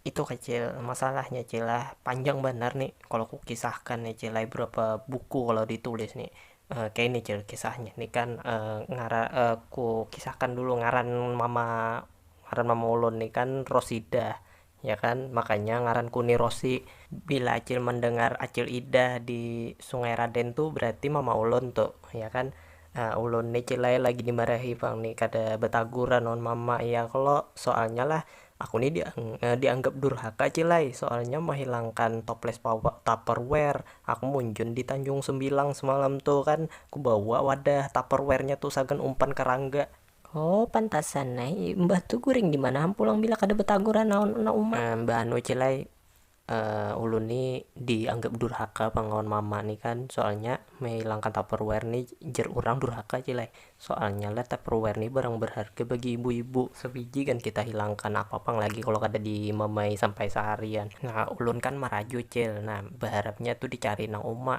Itu kah cil, masalahnya cil lah, panjang banar ni kalo ku kisahkan ni cil ai, berapa buku kalo di tulis ni, kaya ini cil kisahnya ni kan ku kisahkan dulu ngaran mama ngaran mama ulun ni kan rosidah ya kan, makanya ngaran ku ni rosi, bila acil mendengar acil idah di sungai raden tu berarti mama ulun tu ya kan, ulun ni cil ai lagi dimarahi pang ni kada betaguran lawan mama iya kalo, soalnya lah Aku ni dianggap durhaka cil ai, soalnya mahilangkan toples tupperware, aku munjun di tanjung sembilang semalam tu kan, ku bawa wadah tupperware nya tu sagan umpan karangga. Oh pantasan ai, mbah tu guring dimana ham pulang bila kada betaguran lawan anak uma. Mbah anu cil ai, ulun ni dianggap durhaka pang lawan mama ni kan, soalnya mehilangkan tupperware ni jar urang durhaka ja lah, soalnya lah tupperware ni barang berharga bagi ibu-ibu, sebiji gin kita hilangkan napa pang lagi kalo kada di mamai sampai seharian, nah ulun kan maraju cil, nah beharapnya tu dicari nang uma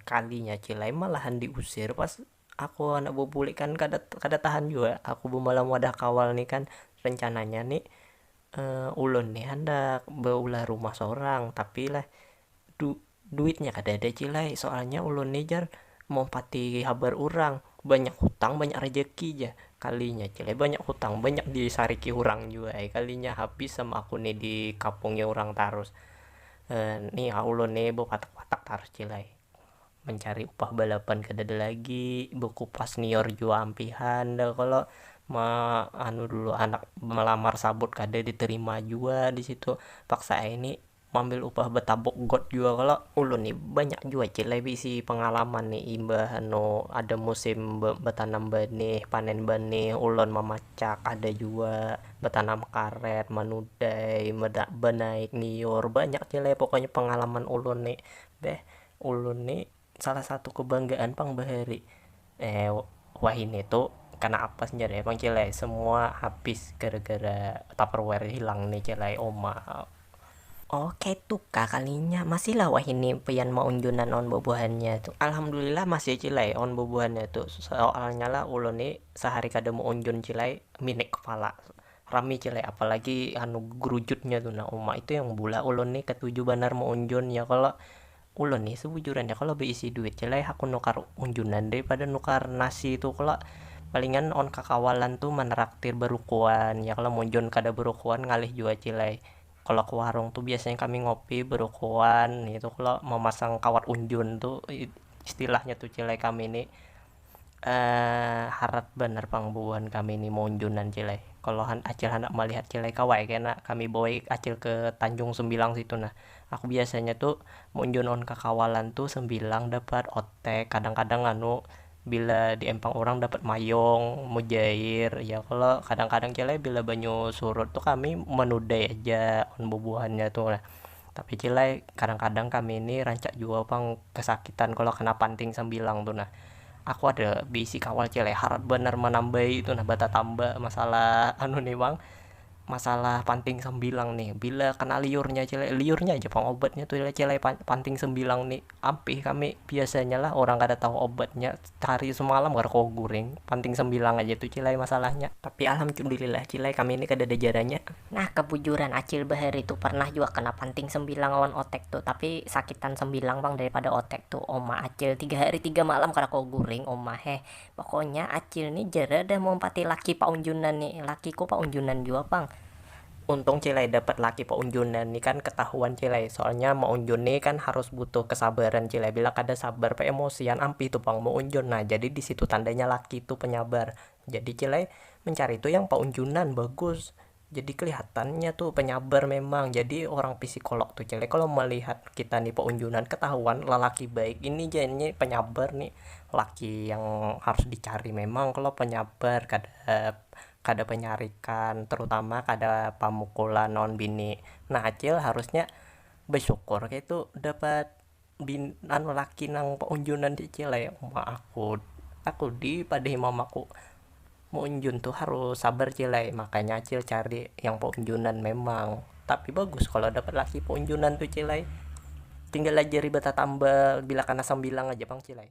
kalinya cil ai malahan diusir pas Aku handak babulik kan kada kada tahan jua aku bamalam wadah kawal ni kan rencananya ni ulun ni handak baulah rumah sorang tapi lah du-duitnya kada ada cil ai soalnya ulun ni jar maumpati habar urang banyak hutang banyak rejeki jar kalinya cil ai banyak hutang banyak disariki urang jua ai kalinya habis am aku ni dikapungi urang tarus ni ulun ni bapatak patak tarus cil ai. Mancari upah balapan kadada lagi, bakupas nior jua ampihan dah kalo, ma anu dulu handak malamar sabut kada ditarima jua disitu, paksa ai ni maambil upah batabuk got jua kalo. Ulun ni banyak jua cil ai baisi pangalaman ni imbah anu ada musim batanam banih, panen banih ulun mamacak ada jua batanam karet, manudai, banaik nior, banyak cil ai pokoknya pangalaman ulun ni beh. Ulun ni salah satu kebanggaan pang bahari wahini tu kena apes jar ya pang cil ai semua habis gara gara tupperware hilang ni cil ai uma. Oh kaitu kah kalinya masih lah wahini pian maunjunan awan bubuhannya tu, alhamdulillah masih cil ai awan bubuhannya tu soalnya lah ulun ni sehari kada meunjun cil ai minik kepala. Rami ja leh apalagi anu grujutnya tu nah uma itu yang bula ulun ni ketuju banar meunjun ya kalo, ulun ni sebujurannya kalo beisi duit ja leh hakun nukar unjunan dari pada nukar nasi tu kalo, palingan lawan kakawalan tu meneraktir berukuan ya kalo meunjun kada berukuan ngalih jua cil ai, kalo ke warung tu biasanya kami ngopi berukuan ngitu kalo memasang kawat unjun tu istilahnya tu cil ai kami ni. harat banar pang bubuhan kami ni maunjunan cil ai, kalo acil handak malihat cil ai kawa ai kena kami bawai acil ke tanjung sembilang situ nah, aku biasanya tu maunjun lawan kakawalan tu sembilang dapat otek kadang-kadang anu bila di empang urang dapat mayung, mujair ya kalo, kadang-kadang cil ai bila banyu surut tu kami manudai aja bubuhannya tu nah. Tapi cil ai, kadang-kadang kami ni rancak jua pang kesakitan kalo kena panting sambilang tu nah. Aku ada beisi kawal cil ai harat banar manambai tu nah batatamba masalah anu ni pang, masalah panting sambilang ni. Bila kena liurnya cil ai, liurnya haja pang obatnya tu cil ai panting sambilang ni. Ampih kami biasanya lah urang kada tahu obatnya. Hari semalam kada kawa guring, panting sambilang aja tu Cil ai masalahnya. Tapi alhamdulillah Cil ai kami ni kadada jaranya. Nah kabujuran Acil bahari tu parnah jua kena panting sambilang lawan otek tu, tapi sakitan sambilang pang daripada otek tu uma Acil, tiga hari tiga malam kada kawa guring uma heh, pokonya Acil ni jarada maumpati laki paunjunan ni, lakiku paunjunan jua pang. Untung Cilai dapat laki paunjunan ni kan ketahuan Cilai, soalnya maunjun ni kan harus butuh kesabaran Cilai, bila kada sabar paemosian ampih tu pang maunjun, nah jadi di situ tandanya laki tu penyabar, jadi Cilai mencari tu yang paunjunan bagus, jadi kelihatan nya tu penyabar memang, jadi orang pisikolog tu Cilai kalo melihat kita ni paunjunan ketahuan lelaki baik ini jar nya penyabar ni laki yang harus dicari memang kalo penyabar kada. Kada panyarikan, terutama kada pamukulan lawan bini, nah acil harusnya basyukur kaitu dapat bini anu laki nang unjunan cicil ai, uma aku aku dipadahi mamaku maunjun tu harus sabar cil ai, makanya acil cari yang paunjunan memang, tapi bagus kalo dapat laki paunjunan tu cil ai, tinggal ajari batatambal bila kana sambilang aja pang cil ai.